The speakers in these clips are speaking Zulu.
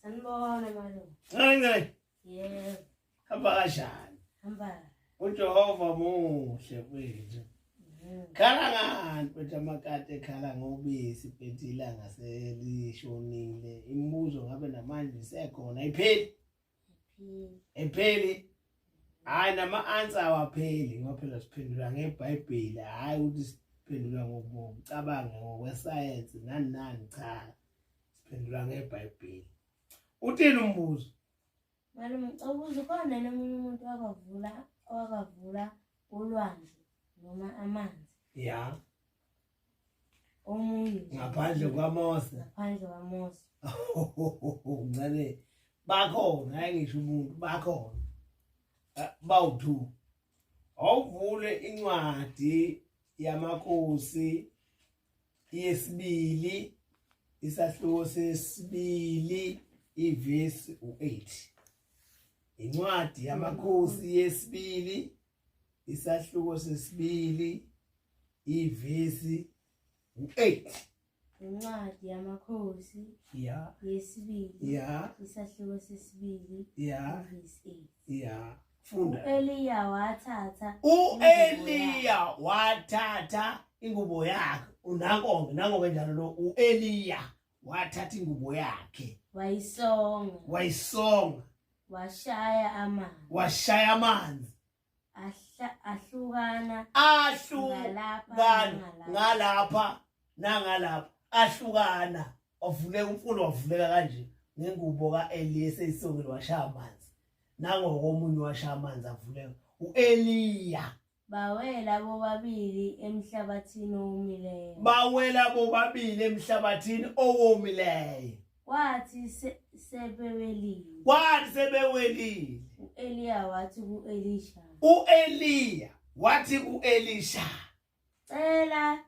Sanibona malume. Ncane. Yebo. Hamba kanjani? Hamba. UJehova muhle kwethu. Mm. Khala ngani mfethu amakati ekhala ngobisi mfethu ilanga selishonile. Imibuzo ngabe namanje isekhona ipheli. epheli hayi nama-answer awapheli ngoba phela siphendula ngebhayibheli hhayi ukuthi siphendula ngokucabanga ngokwesayensi nani nani cha siphendula ngebhayibheli uthini umbuzo malume ngicela ukuza ukhona nomunye umuntu wakavula wakavula ulwandle noma amanzi ya yeah. omunye ngaphandle kwamose ngaphandle kwamose ncane bakhona hayi ngisho umuntu bakhona eh, bawu-two awuvule incwadi yamakhosi yesibili isahluko sesibili ivesi u-8 incwadi yamakhosi yesibili isahluko sesibili ivesi u-8 incwadi yamakhosi ya yesibili ya isahluko sesibili ya ivesi 8 ya funda u-eliya wathatha u-eliya wathatha ingubo yakhe unankonke nangoke njalo lo u-eliya wathatha ingubo yakhe wayisonga wayisonga washaya amanzi washaya amanzi ahla- ahlukana ahlukana Ngalapha, ngalapha nangalapha ahlukana wavuleka umfula wavuleka kanje ngengubo ka-eli eseyisongile washaya amanzi nangokomunye washaya amanzi avuleka u-eliya Bawela bobabili emhlabathini owomileyo. Bawela bobabili emhlabathini owomileyo. Kwathi se- sebewelile, Kwathi sebewelile, u-Eliya wathi ku-Elisha, u-Eliya wathi ku-Elisha, "Cela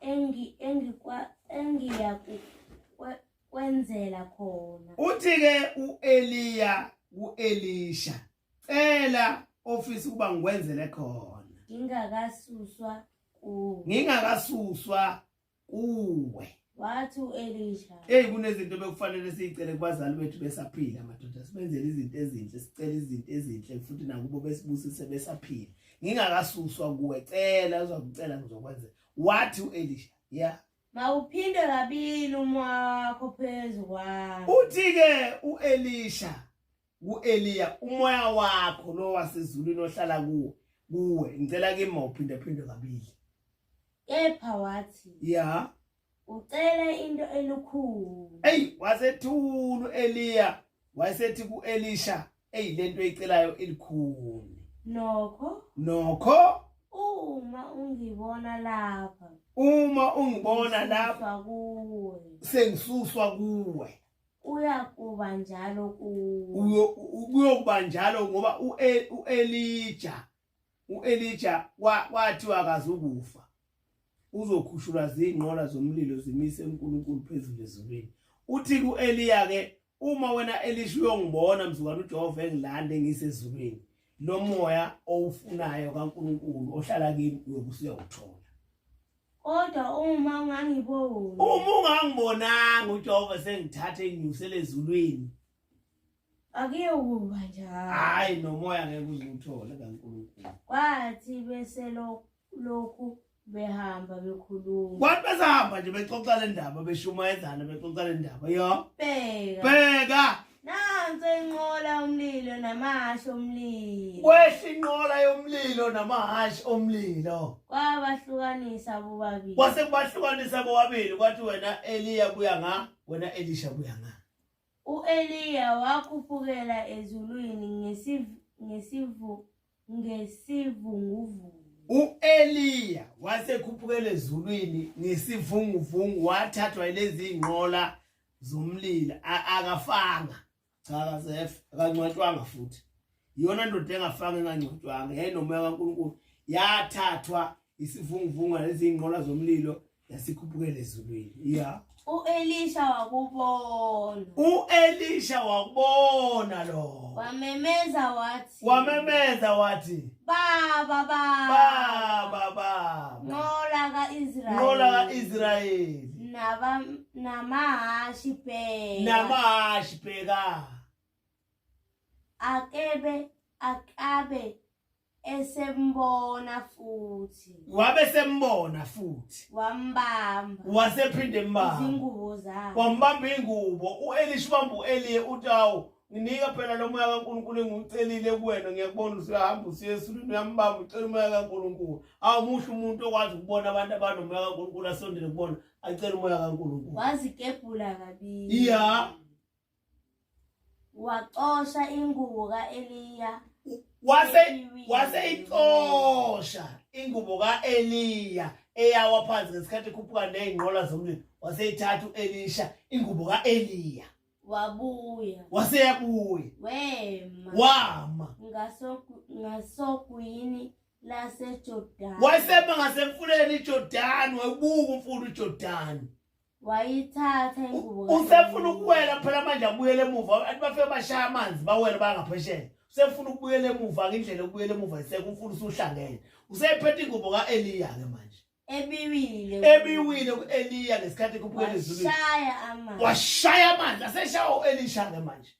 engi engikwa engiya ku- kwe- kwenzela khona." uthi-ke u-Eliya ku-Elisha, cela office ukuba ngikwenzele khona ngingakasuswa kuwe ngingakasuswa kuwe wathi uElisha hey kunezinto bekufanele siyicele kubazali bethu besaphila madoda sibenzele izinto ezinhle sicela izinto ezinhle futhi nakubo besibusise besaphila ngingakasuswa kuwe cela uzokucela ngizokwenza wathi uElisha yeah mawuphinde kabili umwakho phezu kwami uthi ke uElisha uEliya umoya wakho lo wasezulwini ohlala kuwo kuwe ngicela kimi uphinde phinde kabili kepha wathi ya ucela into elukhulu hey wasethulu Eliya wayesethi kuElisha hey lento eyicelayo ilikhulu nokho nokho uma ungibona lapha uma ungibona lapha kuwe sengisuswa kuwe Kuyakuba njalo kuwo. Kuyokuba njalo ngoba e, uElija uElija kwathiwa akazukufa. Uzokhushulwa zingqola zomlilo zimise uNkulunkulu phezulu ezulwini. Uthi kuEliya ke uma wena Elisha uyongibona mzukwana uJehova engilande ngisezulwini lomoya owufunayo kaNkulunkulu ohlala kimi uyokusuya uthola kodwa uma ungangiboni uma ungangibonanga ujehova sengithathe nginyusele ezulwini akuyekuba njalo hhayi nomoya ngeke uziwuthole kankulunkulu kwathi bese lo- lokhu behamba bekhuluma kwathi besahamba nje bexoxa le ndaba beshumayezana bexoxa le ndaba yo bheka bheka Nansi inqola yomlilo namahhashi omlilo. Kwehla inqola yomlilo namahhashi omlilo. Kwabahlukanisa bobabili. Kwase kubahlukanisa bobabili kwathi wena Eliya buya nga, wena Elisha buya nga. U-Eliya wakhuphukela ezulwini ngesiv- ngesivu- ngesivunguvungu. U-Eliya wasekhuphukela ezulwini ngesivunguvungu wathathwa ilezi iy'nqola zomlilo A- akafanga cha kazefe akangcwatshwanga futhi iyona ndoda engafanga engangcwatshwanga yayinomoya kankulunkulu yathathwa isivunguvungwana eziyinqola zomlilo yasikhuphukela ezulwini ya u-elisha wakubona u-elisha wakubona lo wamemeza wathi wamemeza wathi baba baba baba baba nqola ka-israyeli nqola ka-israyeli namahashi bheka namahashi bheka akebe akabe esembona futhi wabe sembona futhi wambamba wasephinde mbamba izingubo zakhe wambamba ingubo uElisha ubamba uElie utawu nginika phela lo moya kaNkulunkulu engiwucelile kuwena ngiyakubona usuyahamba usiye esulwini uyambamba ucela umoya kaNkulunkulu awumuhle umuntu okwazi ukubona abantu abanomoya kaNkulunkulu asondele kubona acela umoya kaNkulunkulu wazikebhula kabili ya yeah. Wacosha ingubo ka-Eliya. Wase waseyicosha ingubo ka-Eliya eyawa phansi ngesikhathi ekhuphuka nezinqola zomlilo. Waseyithatha u-Elisha ingubo ka-Eliya. Wabuya. Waseyabuya. Wema. Wama. Ngaso ngasogwini laseJordani. Wayesema ngasemfuleni iJordani, wayebuka umfula uJordani. wayithatha ingubo ka- usefuna ukuwela phela manje abuyele emuva abantu bafike bashaya amanzi bawele bangaphesheya usefuna ukubuyela emuva ngindlela yokubuyela emuva iseke umfuna usuhlangene usephethe ingubo ka-eliya-ke manje ebiwile ebiwile ku-eliya ngesikhathi kubuyela ezulwini washaya amanzi washaya amanzi aseshawa u-elisha-ke manje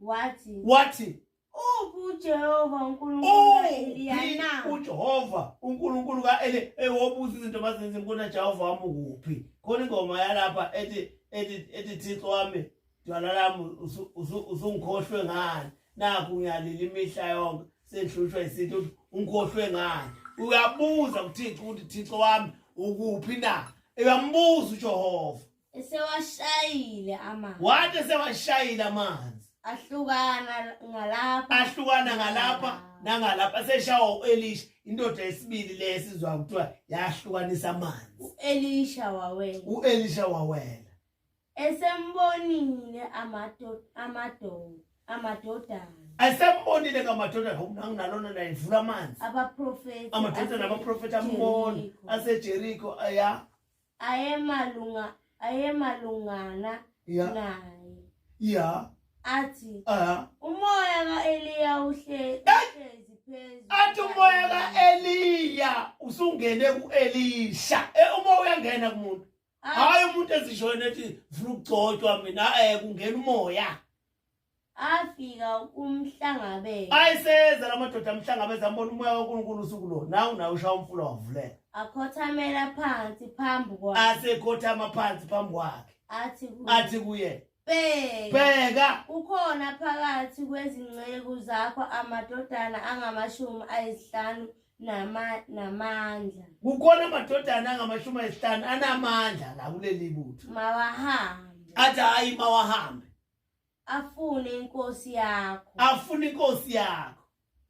wathi wathi Uphi uJehova uNkulunkulu Oh, ka-Eliyana? yini uJehova uNkulunkulu kaEli ewobuza izinto mazenza inkona Jehova wami ukuphi khona ingoma yalapha ethi ethi ethi Thixo wami dwala lami usu- usu- usungikhohlwe ngani nakho ngiyalila imihla yonke sengihlushwa isinto ukuthi ungikhohlwe ngani uyabuza kuThixo ukuthi Thixo wami ukuphi na uyambuza uJehova esewashayile amanzi wathi esewashayile amanzi ahlukana ngalapha ahlukana ngalapha nangalapha seshawa u-elisha indoda yesibili le esizwa kuthiwa yahlukanisa amanzi u-elisha wawela u-elisha wawela esembonile amado- amado- amadodana esembonile ngamadodana ngoku nanginalona naye ndivula amanzi abaprofethi amadoda nabaprofethi ambona asejeriko aya ayemalunga ayemalungana Yeah. naye Yeah. athi Uh-huh. umoya ka-eliya uhle- uhlezi phezu Athi umoya ka-Eliya usungene ku-Elisha. Eh umoya uyangena kumuntu. Athi, Hayi umuntu ezishona ethi vula ukugcotshwa mina eh kungena umoya. afika kumhlangabeza ayiseza la madoda amhlangabeza ambona umoya kaNkulunkulu usuku lo nawu nawu ushaya umfula wavuleka akhothamela phansi phambi kwakhe asekhothama phansi phambi kwakhe athi kuye athi kuye bheka bheka kukhona phakathi kwezinceku zakho amadodana angamashumi ayisihlanu nama- namandla kukhona amadodana angamashumi ayisihlanu anamandla la kuleli butho mawahambe athi hayi mawahambe afune inkosi yakho afune inkosi yakho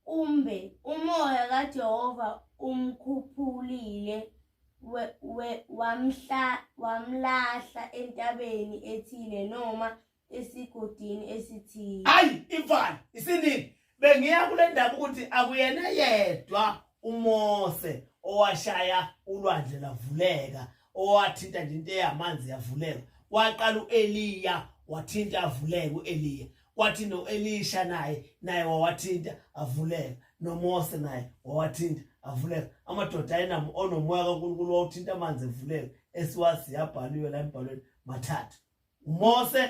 kumbe umoya kaJehova umkhuphulile we- we- wamhla- wamlahla entabeni ethile noma esigodini esithile hayi imfana isinini Bengiya kule ndaba ukuthi akuyena yedwa uMose owashaya ulwandle lavuleka owathinta nje into eyamanzi yavuleka waqala uEliya wathinta avuleka uEliya kwathi noElisha naye naye wawathinta avuleka noMose naye wawathinta avuleka amadoda ayinamo onomoya kaNkulunkulu wawuthinta amanzi evuleka esiwazi yabhaliwe la embhalweni mathathu uMose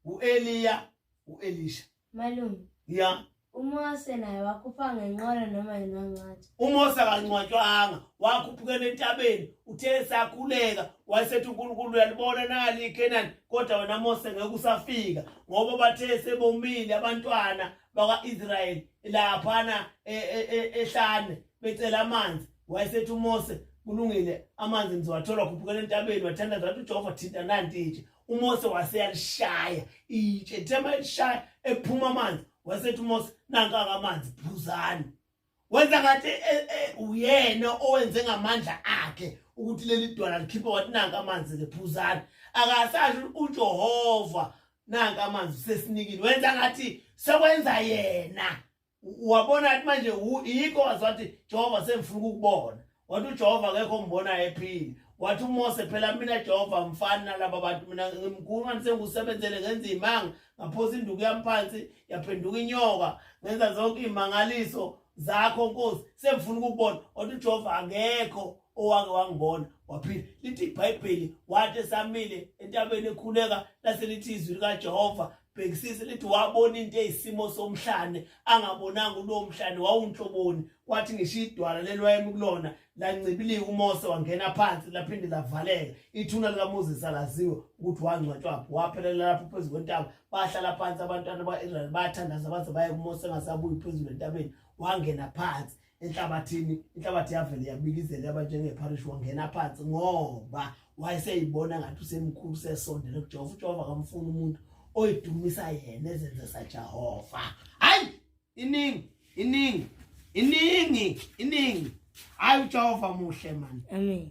uEliya uElisha malume ya uMose naye wakhupha ngenqola noma yinwancwathi uMose akancwatshwanga wakhuphukela entabeni uthe esakhuleka wayesethi uNkulunkulu uyalibona nali iKenani kodwa wena Mose ngeke usafika ngoba bathe sebomile abantwana bakwa-Israyeli laphana e, e, e, ehlane becela amanzi wayesethi uMose kulungile amanzi ngizowathole wakhuphukela entabeni wathandaza wathi ujehova thinta nanti nje uMose waseyalishaya itshe ethema elishaya ephuma amanzi wasethi uMose nanka kamanzi phuzani wenza ngathi e, e, uyena owenze ngamandla akhe ukuthi leli dwala likhiphe wathi nanka amanzi ke phuzani akasasho uJehova nanka amanzi sesinikini wenza ngathi sekwenza yena wabona athi manje yikho wazi wathi jehova sengifuna ukukubona wathi ujehova akekho ngibona ephile wathi umose phela mina jehova mfani nalaba bantu mina ngimkhulu mani sengikusebenzele ngenza iy'manga ngaphosa induku yami phansi yaphenduka inyoka ngenza zonke iy'mangaliso zakho nkosi sengifuna ukukubona wathi ujehova akekho owake wangibona waphila lithi ibhayibheli wathi esamile entabeni ekhuleka lase lithi izwi likajehova bhekisisa lithi wabona into eyisimo somhlane angabonanga ulowo mhlane wawunhloboni kwathi ngisho idwala lelwayemi kulona lancibilika umose wangena phansi laphinde lavaleka ithuna likamoses alaziwe ukuthi wangcwatshwaphi waphelela lapho phezu kwentaba bahlala phansi abantwana ba-israyeli bathandaza baze baye kumose engasabuyi phezulu entabeni wangena phansi enhlabathini inhlabathi yavele yabikizela yaba njengeparish wangena phansi ngoba wayeseyibona ngathi usemkhulu sesondele kujehova ujehova kamfuni umuntu oyidumisa yena ezenze sajehova hayi iningi iningi iningi iningi hayi ujehova muhle mani amen